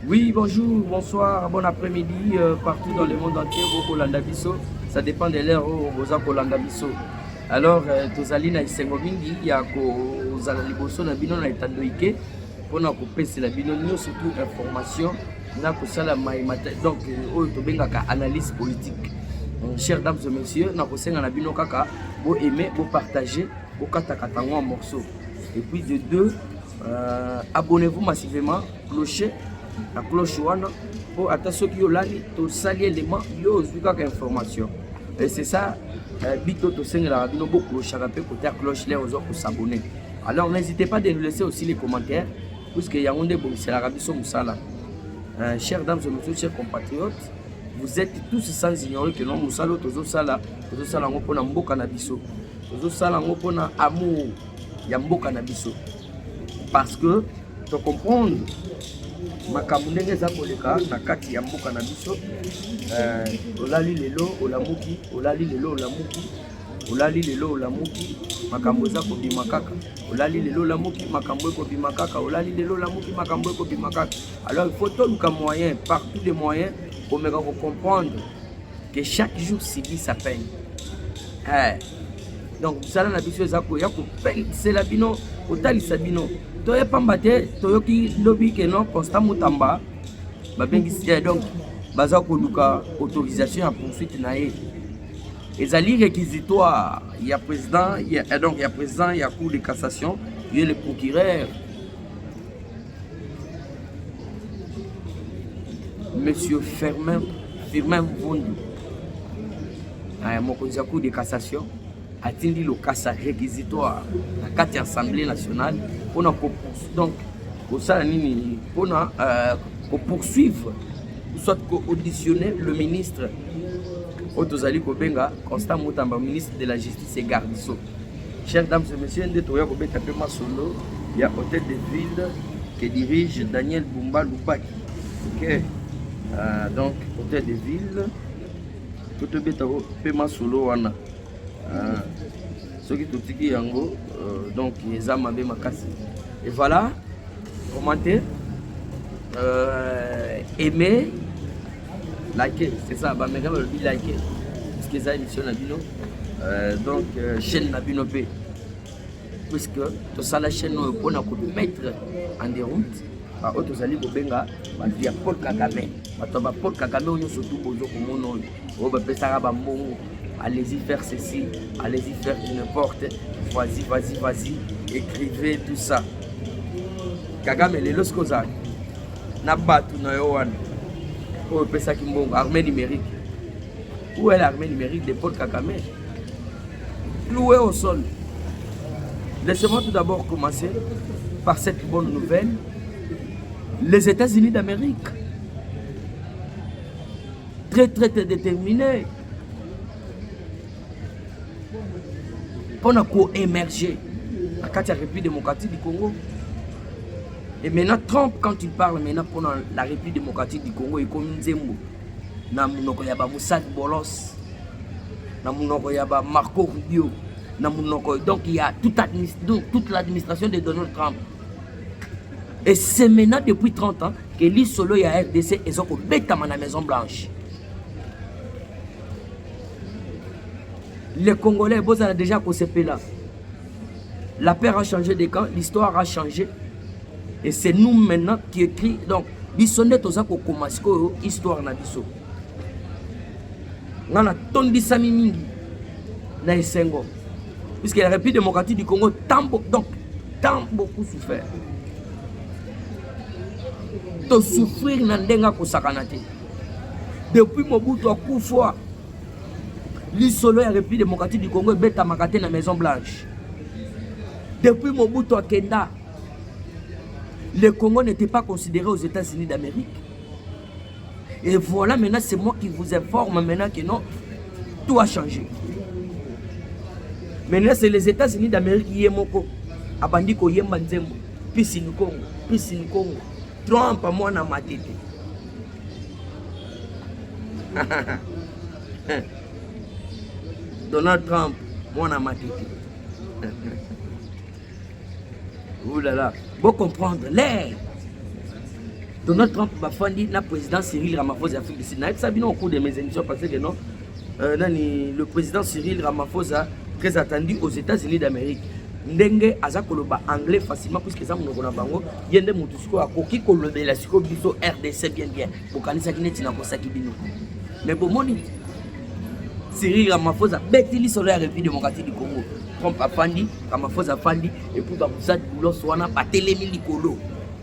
Oui, bonjour, bonsoir, bon après-midi, euh, partout dans le monde entier, au Kolanda Bisso, ça dépend de l'heure au Boza Kolanda Bisso. Alors, euh, tozali na isengo mingi ya kozala liboso na bino na etando ike mpona kopesela bino nio surtout information na kosala mai donc euh, oyo tobengaka analyse politique. Euh, chers dames et messieurs, na kosenga na bino kaka, bo aimer, bo partager, bo kataka tango en morceaux. Et puis de deux, Euh, abonnez-vous massivement, clocher la cloche wana po ata soki yo lali tosali element yo ozwi kaka information et c'est ça euh, bito tosengelaka bino boclochaka mpe kote ya cloche lere ozwa kosabonne alors n'hésitez pas de nous laisser aussi les commentaires puisque yango nde ebongiselaka biso mosala euh, chers dames et messieurs chers compatriotes vous êtes tous sans ignorer que non mosala oyo tozosala tozosala yango mpona mboka na biso tozosala yango mpona amour ya mboka na biso parce que to comprendre makambo ndenge eza koleka na kati ya mboka na biso eh, olali lelo olamuki olali lelo olamuki olali lelo olamuki makambo eza kobima kaka olali lelo olamuki makambo ekobima kaka olali lelo olamuki makambo ekobima kaka alors il faut toluka moyen par tous les moyens komeka kocomprendre que chaque jour sibi sa peine eh. donc mosala na biso eza koya kopensela bino kotalisa bino toye pamba te toyoki lobi ke non constant motamba babengisi te donc baza koluka autorisation ya poursuite na ye ezali réquisitoire ya président ya, eh, donc ya président ya cour de cassation ye le procureur Monsieur Firmin, Firmin Mvundu, euh, mokonzi ya cour de cassation atindi lokasa réquisitoire na kati ya assemblée nationale mpona donc kosala nini mpona euh, kopoursuivre soit koauditionner le ministre oyo tozali kobenga constant mutamba ministre de la justice et garde so Chers dames et messieurs, nde toya kobeta mpe masolo ya hôtel de ville que dirige Daniel Bumba Lubaki. Ok, euh, donc hôtel de ville mpo tobeta mpe masolo wana euh, soki totiki yango euh, donc eza mabe makasi et voilà commenter euh, aimer Like, c'est ça, ba mega balobi like. Parce que ça émission na bino. Euh, donc euh, chaîne na bino pe. Puisque to sala chaîne oyo pona ko mettre en déroute ba oyo tozali kobenga bato ya Paul Kagame. Bato ba Paul Kagame oyo nyonso tu bozo komona oyo oyo bapesaka bambongo allez-y faire ceci, allez-y faire du n'importe, vas-y, vas-y, vas-y, écrivez tout ça. Kagame, les Los Kozak, na bato na yo wana oyo opesaki mbongo armée numérique où est l'armée numérique de Paul Kagame cloué au sol laissez-moi tout d'abord commencer par cette bonne nouvelle les États-Unis d'Amérique très très déterminés mpo na koemerge na kati ya république démocratique du congo et maintenant trump quand il parle maintenant mpo na la république démocratique du congo ekomi nzembo na monoko ya bamosad bolos na monoko ya bamarco rubio na monoko donc ya toute, administ donc, toute l'administration de donald trump et c'est maintenant depuis 30 ans que lisolo ya rdc eza kobetama na maison blanche Les Congolais, vous avez déjà concepé là. La paire a changé de camp, l'histoire a changé. Et c'est nous maintenant qui écrit. Donc, bisonde toza ko commencer ko histoire na biso. Ngana tondi sami mingi na esengo. Puisque la République démocratique du Congo tambo donc tant beaucoup souffert. To souffrir na ndenga ko sakana te. Depuis Mobutu akufa, lisolo ya République démocratique du Congo ebetamaka te na Maison Blanche. Depuis Mobutu akenda, le Congo n'était pas considéré aux États-Unis d'Amérique. Et voilà, maintenant, c'est moi qui vous informe maintenant que non, tout a changé. Maintenant, c'est les États-Unis d'Amérique qui est moko. Abandi koyemba nzembo. Pisi Nkongo, Pisi Nkongo. Trump mwana matete Donald Trump mwana matete oulala bo comprendre le Donald Trump bafandi na président Cyril Ramaphosa ya Afrique du Sud nayebisa bino au cours de mes émissions parce que non Euh, nani le président Cyril Ramaphosa très attendu aux États-Unis d'Amérique ndenge aza koloba anglais facilement puisque eza monoko na bango ye nde motu sikoyo akoki kolobela sikoyo biso rdc bien bien bokanisaki neti nakosaki bino mais bomoni Cyril Ramaphosa abeti lisolo ya République démocratique du Congo Trump afandi Ramaphosa afandi epuis bamusadi bulos wana batelemi likolo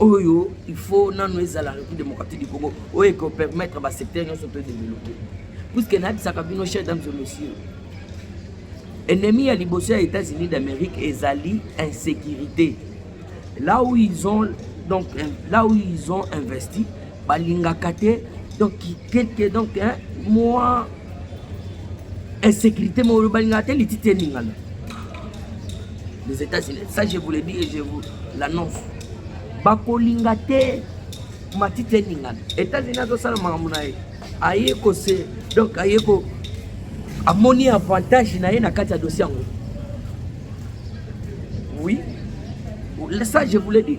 oyo il faut nanu ezala république démocratique du congo oyo ekopermettre basecteur nyonso to développe puiske nayebisaka bino chef dames et monsieur ennemi ya liboso ya états-unis d'amérique ezali insécurité là où ils ont donc euh, là où ils ont investi balingaka te donc quelque donc hein, moi insécurité moko balingaka te lititi eningana les états-unis ça je vous le dis et je vous l'annonce bakolinga te matiti eningana états-unis azosala makambo na ye aye kose donc aye ko amoni avantage na ye na kati ya dossier yango oui ça je vous le dis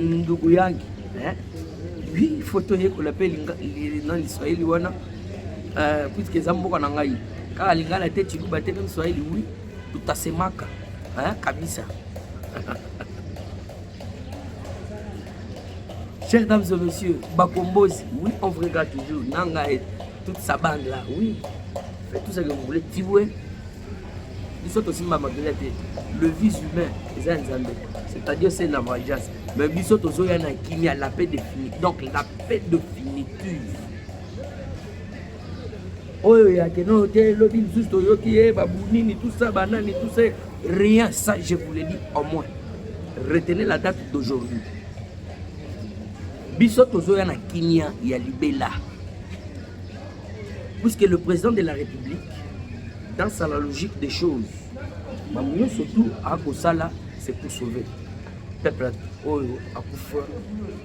ndugu yangi eh? oui foto yekola mpe na liswahili wana eh, puiske eza mboka na ngai kaka lingala te chiluba te mpe mswahili wi tutasemaka eh, kabisa Chers dames et messieurs, Bakombozi, oui, on vous regarde toujours. Nanga et toute sa bande là, oui. Faites tout ce que vous voulez. Tiboué, biso tosimba mabele te le vis humain eza ya nzambe c'est-à-dire c'est la vengeance mais biso tozoya na kimia la paix définie donc la paix définitive oyo yake no te lobi lisusu toyoki ye babunini tout ça banani tout ça rien ça je vous le dis au moins retenez la date d'aujourd'hui biso tozoya na kimia ya libela Puisque le président de la République, dans sa la logique des choses, Mamouyo surtout a Kosala, c'est pour sauver. Peuple oyo akufa,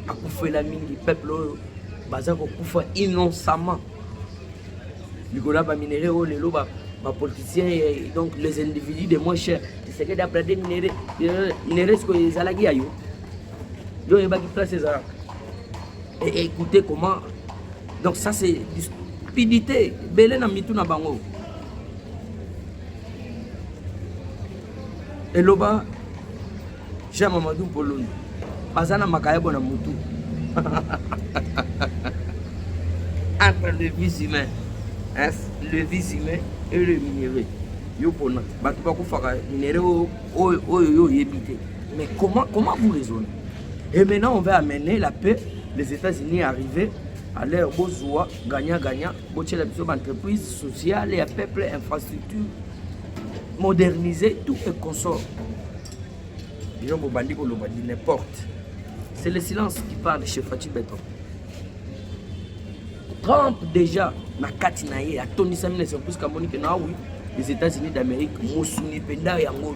akufela mingi, peuple oyo baza kokufa innocemment. Likola ba minerais oyo lelo ba ba politiciens et donc les individus de moins cher. C'est que d'après des minerais, euh, minerais ce que ezalaki ya yo. Yo yebaki place ezalaka. Et écoutez comment donc ça c'est stupidité ebele na mitu na bango eloba jean mamadou poloni baza na makayabo na motu entre le vis humain le vis humain et le minerai yo pona bato bakufaka minere oyo yo oyebi te mais comment, comment vous raisonnez Et maintenant, on va amener la paix. Les États-Unis arrivés à leur besoin, gagnant-gagnant, entreprise sociale, et peuple, infrastructure, moderniser, tout et consort. n'importe. C'est le silence qui parle chez Fatih Beton. Trump déjà na kati na ye atonisami na surprise kamoni ke na oui les États-Unis d'Amérique mosuni mpenza yango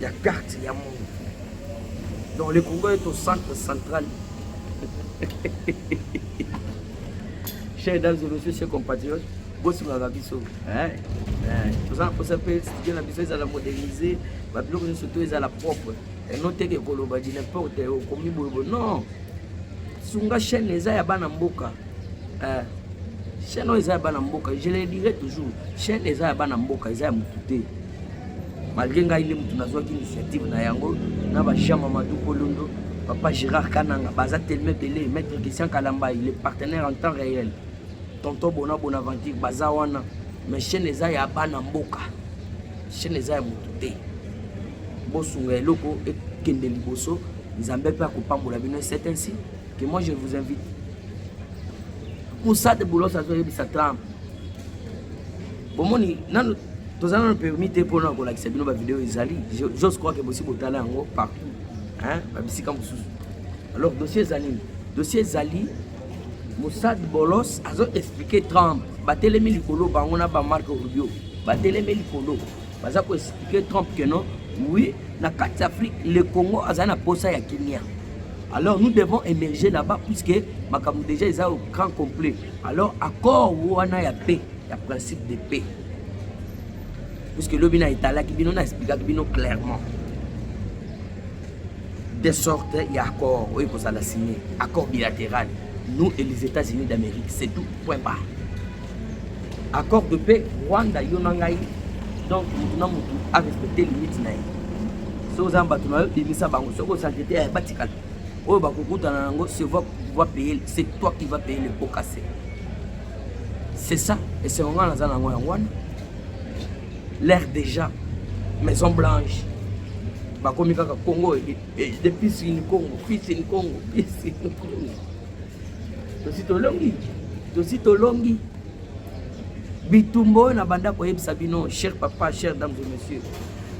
ya carte ya monde donc le congo est au centre central chers dames et messieurs chers compatriotes bosungaka biso toza na mposa mpe studio na biso ezala modernise babiloko nyonso to ezala propre eno teke koloba di n'importe okomi boyeboye non sunga chaîne eza ya bana mboka eh, chaîne oyo eza ya bana mboka je le dirai toujours chaîne eza ya bana mboka eza ya motu te malgré ngai nde moto nazwaki initiative na yango na bajean mamadou kolondo papa gérard kananga baza telema ebele maître christian kalamba il est partenaire en temps réel tonton bona bonaventure baza wana mais chaîne eza ya bana mboka chaîne eza ya moto te bosunga eloko ekende liboso nzambe mpe akopambola bino c'est ainsi que moi je vous invite mosade bolos azoyebisa trump bomoni nanu toza nanu permis te mpona kolakisa bino bavideo ezali jos crois ke bosi botala yango partout babisika mosusu alors dossier eza nini dossier ezali mosad bolos azo explike trump batelemi likolo bango na bamarke rubio batelemi likolo baza koexplike trump ke non oui na kati ya afrique le congo azali na posa ya kimia alors nous devons émerger là-bas puisque makambo déjà eza au grand complet alors accord wana ya paix ya principe de paix puisque lobi na etalaki bino na explikaki bino clairement de sorte ya accord oyo ekozala signe accord bilatéral nous et les états-unis d'amérique c'est tout point barre accord de paix rwanda yo na ngai donc motu na motu arespecte limite na ye soki oza na bato na yo bimisa bango soki osankete ya batikala oyo bakokutana na yango se va pouvoir payer c'est toi qui va payer le pot cassé c'est ça esengo ngai naza nango yango wana l'air déjà maison blanche bakomi kaka congo e, e, de pisi ni congo pisi ni congo pisi ni congo tosi tolongi tosi tolongi bitumba oyo nabanda koyebisa bino cher papa cher dames et messieurs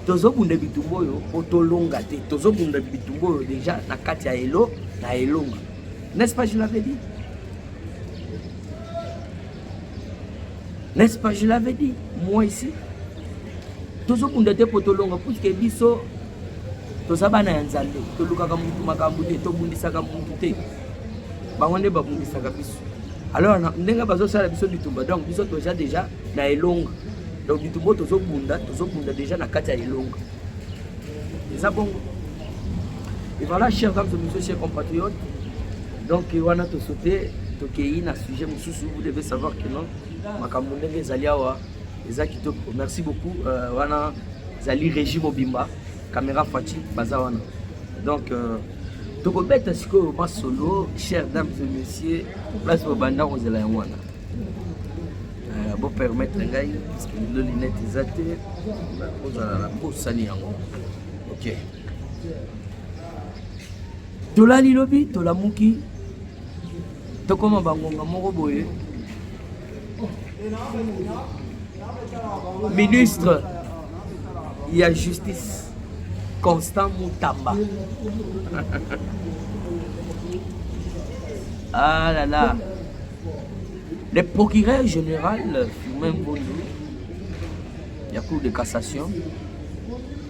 tozobunda bitumba oyo mpo tolonga te tozobunda bitumba oyo deja na kati ya elo na elonga n'est-ce pas je l'avais dit N'est-ce pas, je l'avais dit, moi ici. tozokunda te mpo tolonga puiske biso toza bana ya nzambe tolukaka mutu makambo te tobundisaka mutu te bango nde babundisaka biso alors ndenge bazosala biso bitumba donc biso toza deja na elonga donc bitumba oyo tozobunda tozobunda deja na kati ya elonga eza bongo et voilà chers dames et messieurs chers compatriotes donc wana tosote tokeyi na sujet mosusu vous devez savoir que non makambo ndenge ezali awa eza kitoko merci beaucoup euh, wana ezali régie mobimba caméra faci baza wana donc euh, tokobeta sikoyo masolo cher dame de monsieur place bobanda kozela yango wana euh, bopermettre ngai parce que lelo linete eza te kozala na bosani yango ok Tolali lobi, tolamuki, tokoma bangonga moko boye. Ministre ya justice Constant Mutamba. ah là là. Le procureur général Firmin Bondo, la Cour de cassation,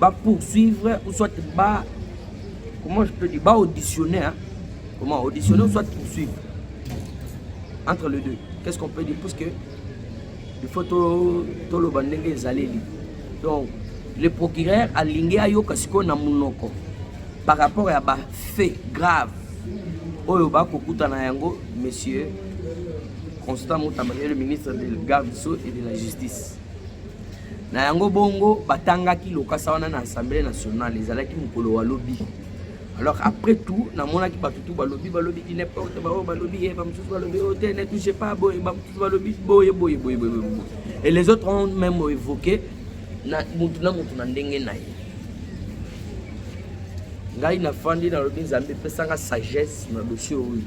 ba poursuivre ou soit ba comment je peux dire ba auditionner hein? comment auditionner ou soit poursuivre entre les deux qu'est-ce qu'on peut dire parce que il faut to to loba ndenge ezaleli donc le procureur alingi ayoka sikoyo na munoko par rapport ya ba fait grave oyo bakokutana yango monsieur constant mutamba ye le ministre de garde so et de la justice Na yango bongo batangaki lokasa wana na Assemblée nationale, ezalaki mokolo wa lobi. Alors après tout, namonaki bato tout balobi balobi di n'importe ba oyo balobi ye eh, ba mosusu balobi oyo oh, te ne touche pas boye ba mosusu balobi boye boye boye boye boye. Et les autres ont même évoqué na mutu na mutu na ndenge na ye. Ngai nafandi nalobi Nzambe pesanga sagesse na dossier oyo.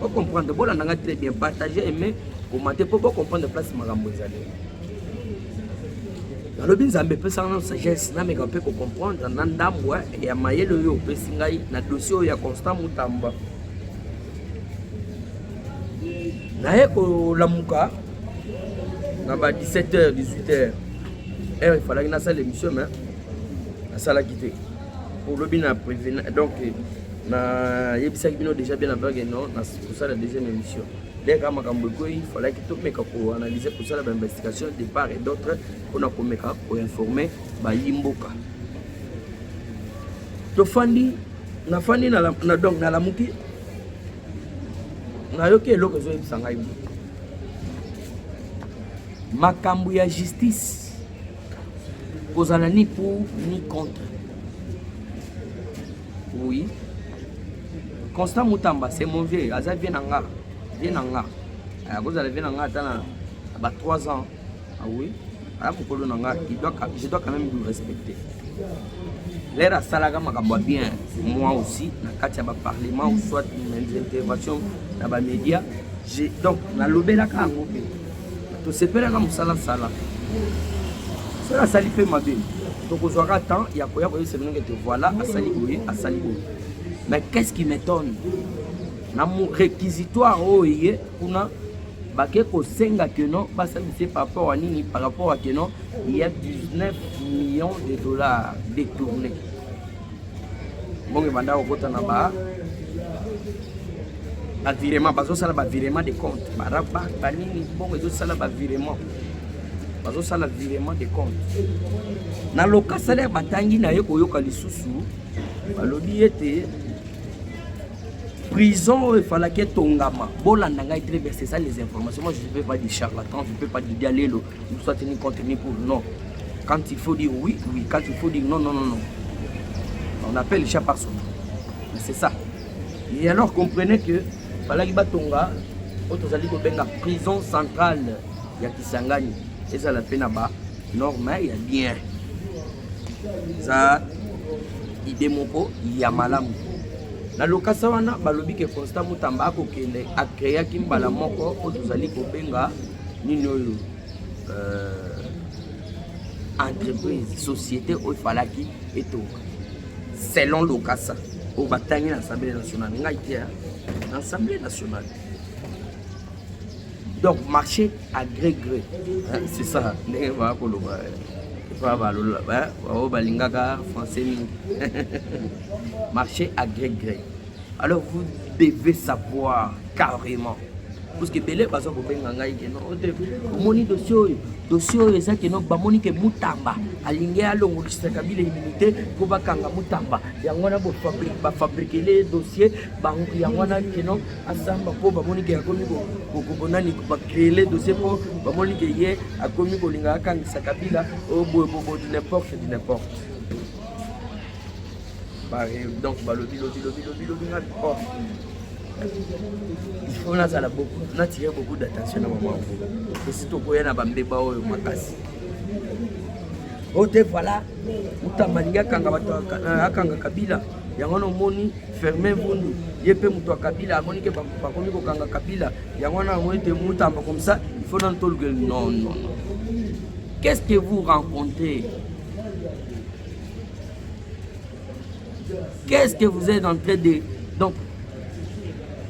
Bo comprendre, bola nanga très bien, partager, aimer, commenter po bo comprendre place makambo ezali. nalobi nzambe epesaka nano sagesse nameka mpe kocomprendre na ndambo eh, ya mayele oyo opesi ngai na dossier oyo ya constant mutamba naye kolamuka na ba 17 heures 18 heures heure efalaki nasala émission mais nasalaki te olobi na privé donc nayebisaki bino déjà bien avant que non kosala deuxième émission dès kaka makambo ekwei falaki tomeka koanalyse kosala bainvestigation de part et d'autre mpona komeka koinforme bayi mboka tofandi nafandi donc nalamuki nayoki eloko ezoyebisa ngai makambo ya justice kozala ni pour ni contre oui constant mutamba c'est mon vieux aza vie na nga vie na nga akozala vie na nga ata na ba 3 ans ah oui aya mokolo na nga je dois quand même lui respecter lere asalaka makambo ya bien moi aussi na kati ya baparlement ou soit mes intervention na bamédia donc nalobelaka yango mpe tosepelaka mosala sala soki asali mpe mabe tokozwaka temps ya koya koyebisa bino kete voilà asali boye asali boye mais qu'est-ce qui m'étonne na réquisitoire oyo eye kuna bake kosenga que non basalisa par rapport ya nini par rapport ya que non il y a 19 millions de dollars détournés mbongo ebanda kokota na ba bavirement bazosala bavirement de compte baraba banini mbongo ezosala bavirement bazosala virement de compte na loka salaire batangi na ye koyoka lisusu balobi ete prison oyo efalaki etongama bolanda ngai très bien c'est ça les informations moi je ne peux pas dire charlatan je ne peux pas dire dialelo soit ni contre ni pour non quand il faut dire oui oui quand il faut dire non non non non on appelle chat par son nom mais c'est ça et alors comprenez que balaki batonga oyo tozali kobenga prison centrale ya kisangani ezala mpe na ba norme ya bien eza ide moko ya malamu na lokasa wana balobi ke constant mutamba akokende akreaki mbala moko oyo tozali kobenga nini oyo euh, entreprise société oyo efalaki etonga selon lokasa oyo batangi na assemblée nationale ngai te na assemblée nationale donc marché à gré gré c'est ça ndenge baa koloba epa balola baoyo balingaka français mingi marché à gré gré alors vous devez savoir carrément parce que ebele baza kobenga ngai keno ote oh, omoni dossier oyo dossier oyo eza keno bamoni ke mutamba alingi alongolisa kabila immunité mpo bakanga mutamba yango wana bafabrikele ye dossier yango wana keno asamba mpo bamoni ke akomi konani bacreele dossier mpo bamoni ke ye akomi kolinga akangisa kabila oyo oh, boye bobo du n'importe du n'importe donc balobi lobi lobi lobi lobi nga oh. il faut nazala beaucoup natire beaucoup d'attention na mama esi tokoya na bambeba oyo makasi o oh, te voilà utamba alingi akanga bato euh, akanga kabila yango nomoni fermin bundu ye mpe moto ya kabila amoni ke bakomi kokanga kabila yango wana amoni te mutamba comme ça il faut nanu tolukeli non non qu'est ce que vous rencontrez Qu'est-ce que vous êtes en train de donc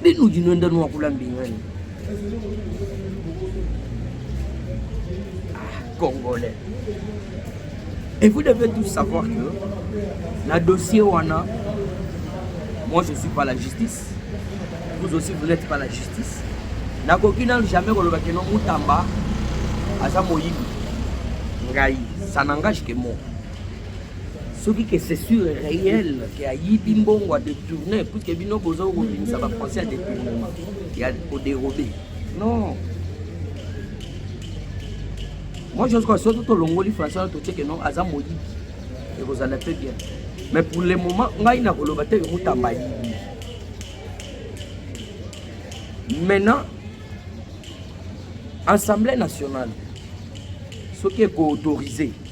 binu dino nda no akula mbingani ah, congolais et vous devez tous savoir que na dossier wana moi je suis pas la justice vous aussi vous n'êtes pas la justice nakoki nanu jamais koloba keno mutamba aza moyibi ngai ça n'engage que moi soki ke c'est sûr réel ke ayibi mbongo a détourne puisque bino boza kobimisa ba français ya détournement ya koderobe non moi je crois soki tolongoli français wana totie ke non aza moyibi ekozala mpe bien mais pour le moment ngai nakoloba te ke mutamba ayibi maintenant assemblée nationale soki ekoautorise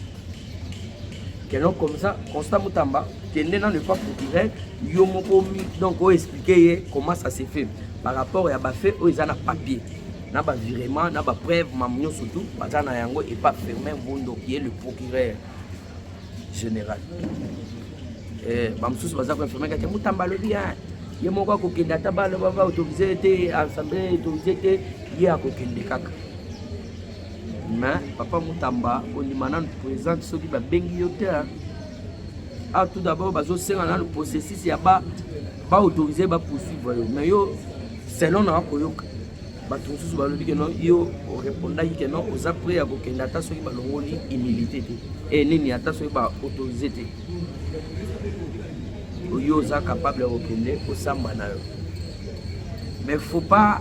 Keno comme ça, Constant Mutamba, kende nanu epa procureur, yo moko omi, donc o expliquer ye comment ça se fait par rapport ya ba faits oyo eza na papier na ba virement na ba preuve mamu nyonso tout baza na yango epa Firmin Mbondo qui est le procureur général eh, bamosusu baza koinfirme kati mutamba alobi ya ye moko akokende ata baloba baautorise te assemble autorise te ye akokende kaka Mais papa Mutamba ondima nanu présente soki babengi yo te ah tout d'abord bazosenga nanu processus ya ba baautorise bapoursuivre yo mais yo selon na koyoka bato mosusu balobi ke non yo orepondaki ke non oza prêt ya kokende ata soki balongoli humilité te e nini ata soki baautorise te oyo oza capable ya kokende osamba na yo mais faut pas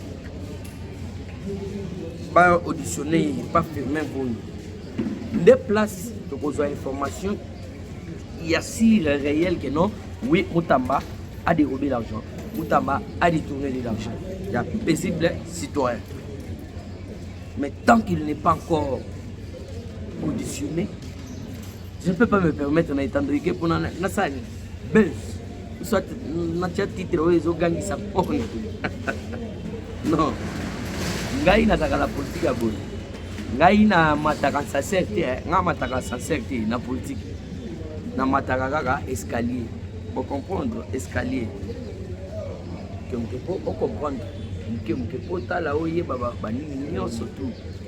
ba auditionne ye pa firmin boni nde place tokozwa information ya sur réel que non oui mutamba a dérobé l'argent mutamba a détourné de l'argent ya paisible citoyen mais tant qu'il n'est pas encore auditionné Je peux pas me permettre na etandrike pona na sali buzz soit na tia titre oyo ezogangisa pone non ngai nazalaka na politike ya boye ngai na mataka sacer te eh. ngai mataka sacer te na politike na mataka kaka escalier bocomprendre escalier moke moke po ocomprendre moke moke po otala oyeba banini nyonso tout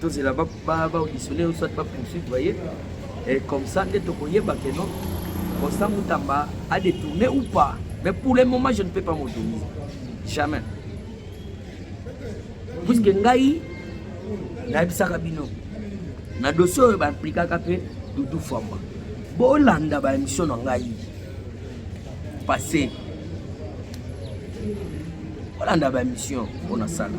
tozela baauditionnaire ba, soit bapoursuivre baye et comme ça nde tokoyeba ke non constant mutamba a détourné ou pas mais pour le moment je ne peux pas m'autoriser jamais puisque ngai nayebisaka bino na dossier oyo baimplikaka mpe dudu famba bolanda baémission na ngai passé bolanda baémission mpo nasala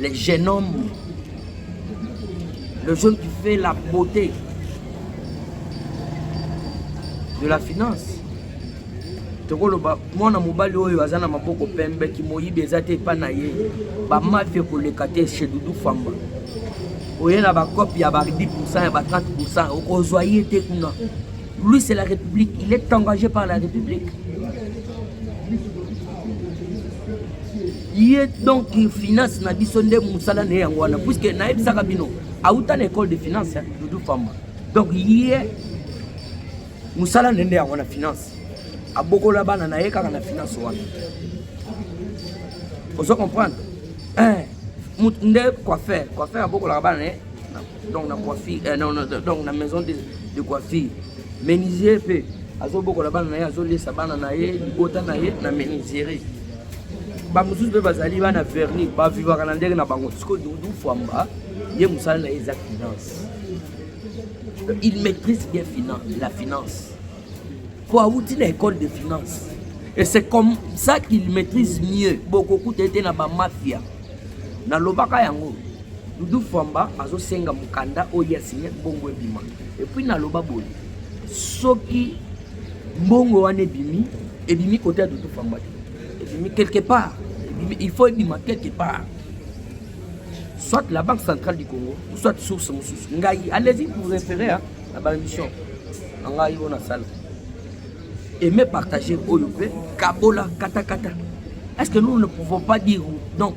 Le jeune homme, le jeune qui fait la beauté de la finance. tokoloba mwana mobali oyo aza na maboko pembe kimoyibi eza te epai na ye bamafi ekoleka te chez dudu famba oye na bacope ya ba 10 pourcent ya ba 30 pourcent okozwa ye te kuna lui c'est la république il est engagé par la république ye donc finance na biso nde mosala na ye yango wana puiske nayebisaka bino auta na école de finance ya dudu famba donc ye mosala na ye nde yango na finance abokola bana na ye kaka na finance wana ozo comprendre eh, nde coiffeur coiffeur abokolaka bana na ye donc na coiffure eh, non, non, donc na maison de, de coiffure menuisier mpe azobokola bana na ye azoliesa bana na ye libota na ye na menuiserie bamosusu mpe bazali bana verni bavivaka na ndenge na bango sikoyo dudu fwamba ye mosala na ye eza finance il maîtrise bien finance, la finance mpo awuti na école de finance et c'est comme ça qu'il maîtrise mieux bokokuta ete na bamafia nalobaka yango dudu fwamba azosenga mokanda oyo ya signe bongo ebima epuis naloba boye soki mbongo wana ebimi ebimi kote ya dudu fwamba te ebimi quelque part il faut ebima quelque part soit la banque centrale du congo soit source mosusu ngai allez-y pour référer na baémission na ngai oyo nasala aime partager oyo mpe kabola katakata est ce que nous ne pouvons pas dire donc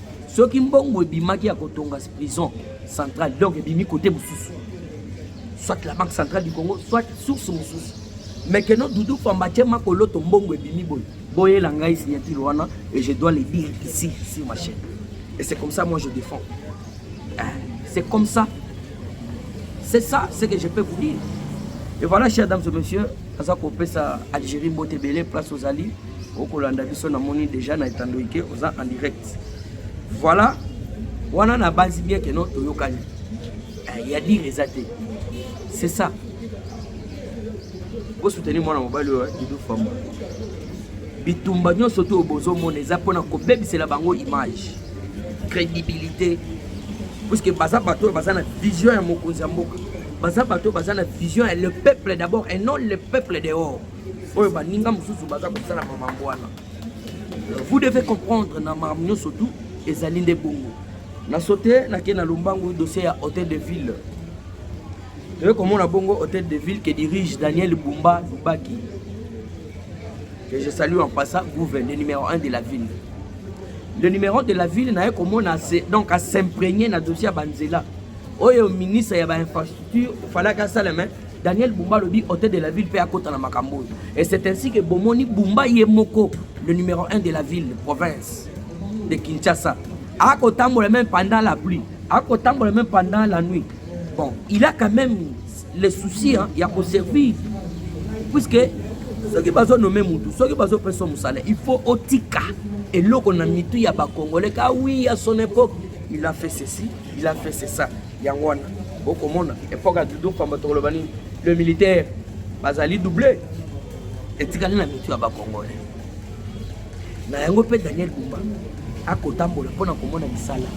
soki mbongo ebimaki ya kotonga prison centrale donc ebimi kote mosusu soit la banque centrale du congo soit source mosusu mais keno dudu famba tie makoloto mbongo ebimi boye boyela ngai signature wana et je dois le dire ici sur ma chaîne et c'est comme ça moi je défends hein? c'est comme ça c'est ça ce que je peux vous dire et voilà chers dames et messieurs aza kopesa algérie mbote ebele place ozali okolanda biso namoni deja na etando ike oza en direct voilà wana na basi bien que non toyokani eh, ya dire eza te c'est ça bosoutenir mwana mobali oyo didu famba bitumba nyonso to oyo bozomona eza mpona kobebisela bango image crédibilité puisque baza bato oyo baza na vision ya mokonzi ya mboka baza bato oyo baza na vision ya le peuple d'abord et non le peuple dehors oyo baninga mosusu baza kosala mamambo wana vous devez comprendre na makambo nyonso tu ezali nde bongo na sote nake na lombangu dossier ya hôtel de ville toye komona bongo hôtel de ville que dirige daniel bumba lubaki que je salue en passant gouve le numéro 1 de la ville le numéro de la ville naye komona donc asimprégner na dossier ya banzela oyo ministre ya bainfrastructure falaki asala mai Daniel Bumba alobi hôtel de la ville mpe akota na makambo oyo et c'est ainsi que bomoni Bumba ye moko le numéro 1 de la ville de province de Kinshasa akotambola même pendant la pluie akotambola même pendant la nuit bon il a quand même le souci hein, ya koservir puisque soki bazonome mutu soki bazopesa mosala il faut otika eloko na mitu ya bakongole ka wi ya son époque il a fait ceci il a fait c'est ça yango wana bokomona epoque ya dodo pamba tokoloba nini le militaire bazali double etikali na mitu ya bacongolais na yango mpe daniel bumba akotambola mpo na komona misala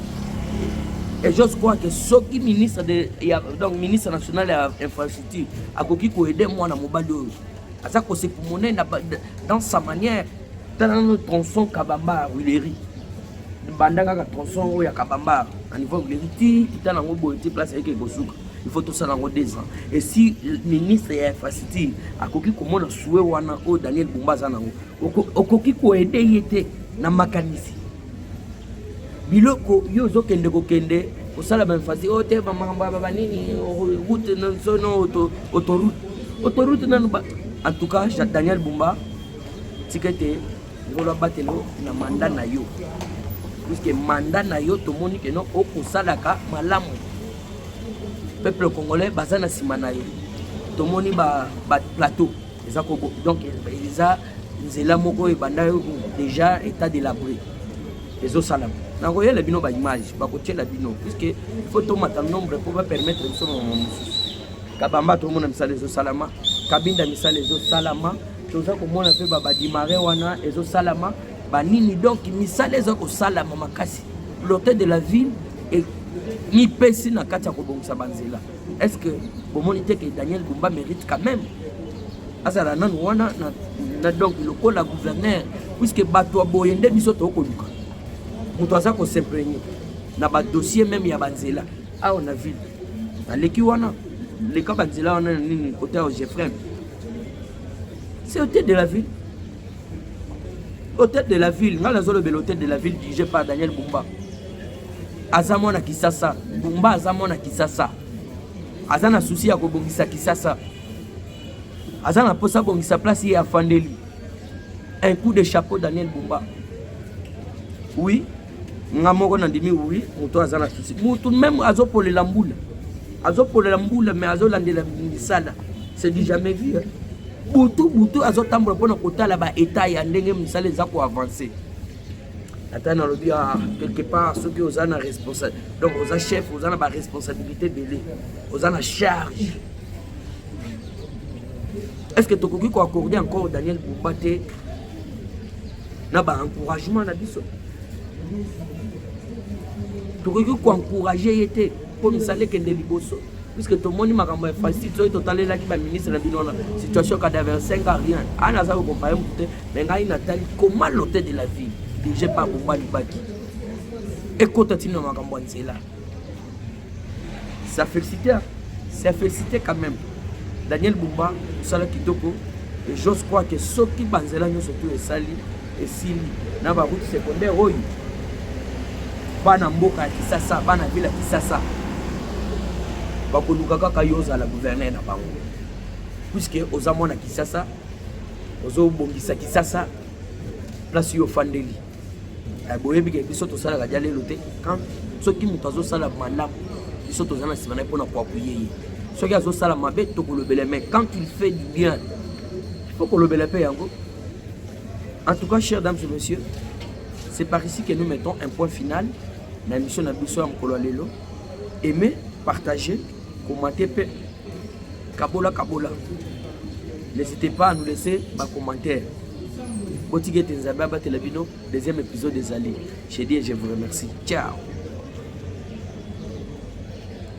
et j'ose croire que soki ministre de ya, donc ministre national ya infrastructure akoki koede mwana mobali oyo aza kosepu monene dans sa manière tala nano tronçon kabambar huilerie banda kaka tronçon oyo ya kabambar na niveau huilerie ti kita nango boye ti place ayeke ekosuka il faut tosala yango deux ans et si ministre ya infrastructure akoki komona sue wana oyo daniel bumba aza nango okoki koede ye te na makanisi biloko yo ozokende kokende kosala bainfasi oyo oh, te bamakambo ya babanini oh, route nsono autoroute autoroute nanu en tout cas daniel bumba tika ete ngolo abatelo na manda na yo puiske manda na yo tomoni keno okosalaka malamu peuple congolais baza na nsima na yo tomoni baplateau ba eza kobo donc eza nzela moko ebanda déjà état de l'abri ezosalama nakoyela bino baimage bakotyela bino puiske faut tomata nombre mpo bapermettre biso mama mosusu kabamba tomona misala ezosalama kabinda misala ezosalama toza komona mpe babadimare wana ezosalama banini donc misala eza kosalama makasi l'hôtel de la ville mipesi na kati ya kobongisa banzela est ce que bomoni te ke daniel bumba mérite quand même azala nanu wana na, na donc lokola gouverneur puisque bato ya boye nde biso tokoluka moto aza kosimprene na badossier meme ya banzela awa na ville naleki wana leka banzela wana na nini kote ya jefrem C'est au tête de la ville. Au tête de la ville, nga nazolobela au tête de la ville dirigé par Daniel Bumba. Aza mwana Kisasa, Bumba aza mwana Kisasa. Aza na souci ya kobongisa Kisasa. Aza na posa bongisa place ye afandeli. Un coup de chapeau Daniel Bumba. Oui, nga moko nandimi oui moto aza na susi moto meme azopolela mbula azopolela mbula mais azolandela misala c'est du jamais vu hein? butu butu azotambola mpona kotala baetat ya ndenge misala eza koavance ata nalobi ah, quelque part soki oza na responsable donc oza chef oza na baresponsabilité ebele oza na charge est ce que tokoki koaccorde encore daniel bumba te na ba encouragement na biso tokoki koencourage ye te mpo misala ekende liboso puisque tomoni makambo ya facile soki totalelaki baministre na bino wana situation cadavre 5 a rien ani aza kokompaye motu te me ngai natali comment l'hôtel de la ville dirige par bomba libaki ekota ntina na makambo ya nzela Ça félicité, hein? ça félicité quand même. Daniel Bumba, Sala Kitoko, et j'ose croire que ceux qui banzela nous surtout et sali et sili na ba route secondaire oyo bana mboka ya kisasa bana ville ya kisasa bakoluka kaka yo ozala gouverneur na bango puiske oza mwana kisasa ozobongisa kisasa place yo ofandeli Eh, boyebi ke biso tosalaka dia lelo te quand soki moto azosala malamu biso toza na nsima na ye mpo na koapuye ye soki azosala mabe tokolobela mais quand il fait du bien faut kolobela mpe yango en tout cas chers dames et messieurs c'est par ici que nous mettons un point final na émission na biso ya mokolo ya lelo aime partage komate mpe kabola kabola n'hésitez pas à nous laisser ba commentaire botika ete nzambe abatela bino deuxième épisode ezali je dis et je vous remercie ciao